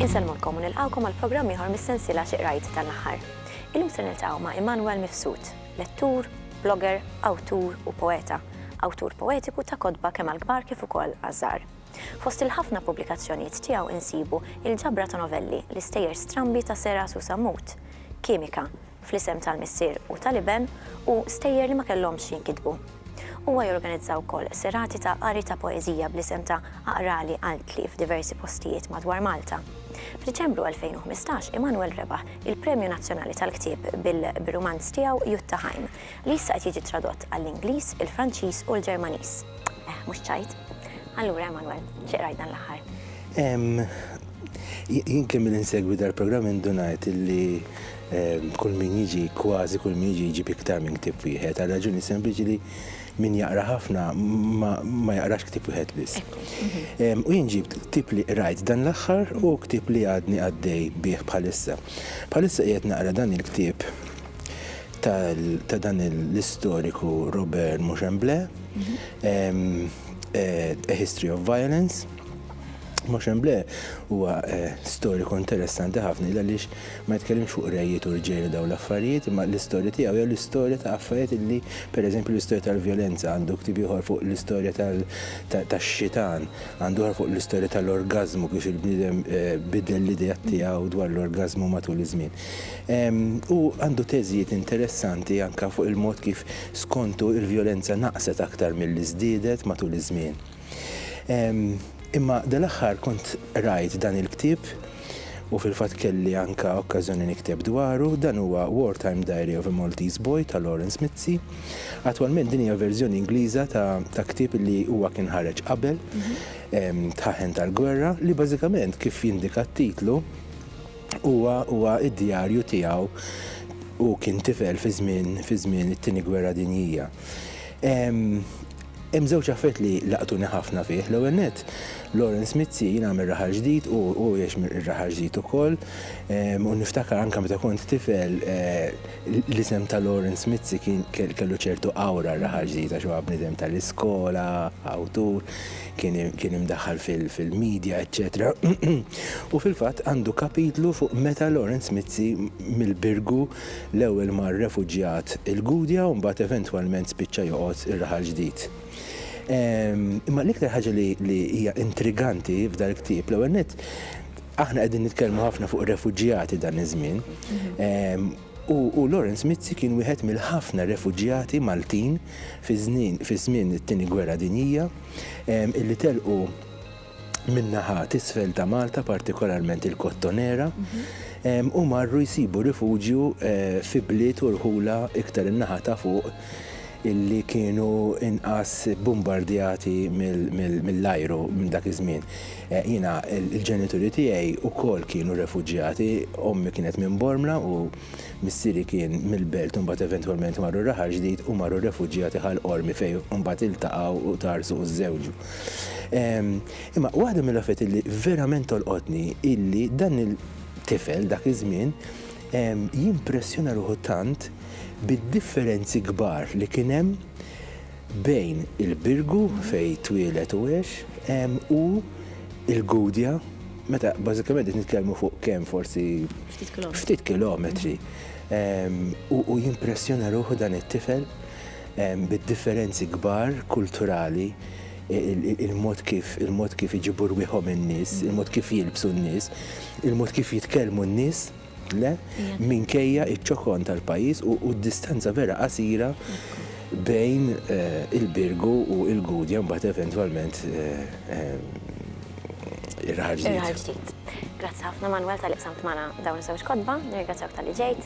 Insellmulkom u nilqgħukom għal programm ieħor mis-sensiela xi qrajt dan l-aħħar. Illum se niltaqgħu ma' Immanuel Mifsud, lettur, blogger, awtur u poeta, awtur poetiku ta' kotba kemm għall-kbar kif ukoll għaż-żgħar. Fost il-ħafna pubblikazzjonijiet tiegħu insibu il-ġabra ta' novelli L-istejjer strambi ta' Seras u Sammut, Kimika, Fl-isem tal-Missier u tal-Iben u Stejjer li ma kellhomx jinkitbu. Huwa jorganizza wkoll serati ta' qari ta' poeżija bl-isem ta' Aqrali Qaltli f'diversi postijiet madwar Malta. F'Diċembru 2015 Immanuel rebaħ il-Premju Nazzjonali tal-Ktieb bir-rumanz tiegħu Jutta Ħajm, li issa qed jiġi tradott għall-Ingliż, il-Franċiż u l-Ġermaniż. Eh, mhux ċajt? Allura, Emanuel, xi qrajt dan l-aħħar? Jien kemm min insegwi dal-programm indunajt illi kull min jiġi, kważi kull min jiġi jiġi iktar minn ktib wieħed, għal raġuni sempliċi li min jaqra ħafna ma jaqrax ktib wieħed biss. Mhm. U jien ġibt ktib li qrajt dan l-aħħar u ktib li għadni għaddej bih bħalissa. Bħalissa qiegħed naqra dan il-ktib ta' dan l-istoriku Robert Mochamblé, A History of Violence. Mochamblé huwa storiku interessanti ħafna għaliex ma jitkellimx fuq rejiet u rġiel u dawn l-affarijiet, imma l-istorja tiegħu hija l-istorja ta' affarijiet illi, pereżempju, l-istorja tal-vjolenza, għandu ktieb ieħor fuq l-istorja tax-xitan, għandu ieħor fuq l-istorja tal-orgażmu, kif il-bniedem biddel l-ideat tiegħu dwar l-orgażmu matul iż-żmien. Hu għandu teżijiet interessanti anke fuq il-mod kif skontu l-vjolenza naqset aktar milli żdiedet matul iż-żmien. Imma dal-aħħar kont qrajt dan il-ktieb, u fil-fatt kelli anke okkażjoni nikteb dwaru, dan huwa Wartime Diary of a Maltese Boy ta' Lawrence Mizzi. Attwalment din hija verżjoni Ingliża ta' ktieb li huwa kien ħareġ qabel, Tħaħen tal-Gwerra, li bażikament kif jindika t-titlu, Huwa huwa d-djarju tiegħu hu kien tifel fi żmien fi żmien it-Tieni Gwerra Dinjija. Hemm żewġ affarijiet li laqtuni ħafna fih. L-ewwel nett, Lawrence Mizzi jiena mir-Raħal Ġdid u hu jgħix mir-Raħal Ġdid ukoll. U niftakar anke meta kont tifel l-isem ta' Lawrence Mizzi kien kellu ċertu awra r-Raħal Ġdid għax huwa bniedem tal-iskola, awtur. kien imdaħħal fil-midja eċċetera u fil-fatt għandu kapitlu fuq meta Lawrence Mizzi mill-Birgu l-ewwel mar refuġjat il-Gudja u mbagħad eventwalment spiċċa joqgħod ir-Raħal Ġdid. Imma l-iktar ħaġa li hija intriganti f'dal-ktieb l-ewwel nett aħna qegħdin nitkellmu ħafna fuq refuġjati dan iż-żmien, U Lawrence Mizzi kien wieħed mill-ħafna refuġjati Maltin fi żmien it-Tieni Gwerra Dinjija illi telqu min-naħa t'isfel ta' Malta, partikolarment il-Kottonera, u marru jsibu rifuġju fi bliet u rħula iktar in-naħa ta' fuq. illi kienu inqas bbumbardjati mill-ajru minn dak iż-żmien. Jiena l-ġenituri tiegħi wkoll kienu refuġjati, ommi kienet minn Bormla u missieri kien mill-Belt u mbagħad eventwalment marru Raħal Ġdid u marru refuġjati Ħal Qormi fejn mbagħad iltaqgħu u tgħarrsu u żżewġu. Imma waħda mill-affarijiet illi verament tolqotni illi dan il-tifel dak iż-żmien jimpressjona ruħu tant bid-differenzi kbar li kien hemm bejn il-Birgu fejn twieled u għex u l-Gudja meta bażikament qed nitkellmu fuq kemm forsi ftit kilometri. U jimpressjona ruħu dan it-tifel bid-differenzi kbar kulturali il-mod kif il-mod kif iġibu rwieħhom in-nies, il-mod kif jilbsu n-nies, il-mod kif jitkellmu n-nies, le, minkejja iċ-ċokon tal-pajjiż u d-distanza vera qasira bejn eh, il-Birgu u il-Gudja mbagħad eventwalment eh, eh, ir-raħal ġdid. Grazzi ħafna Manuel tal-iqsamt magħna dawn iż-żewġ kotba, nirringrazzjawk tal-li ġejt.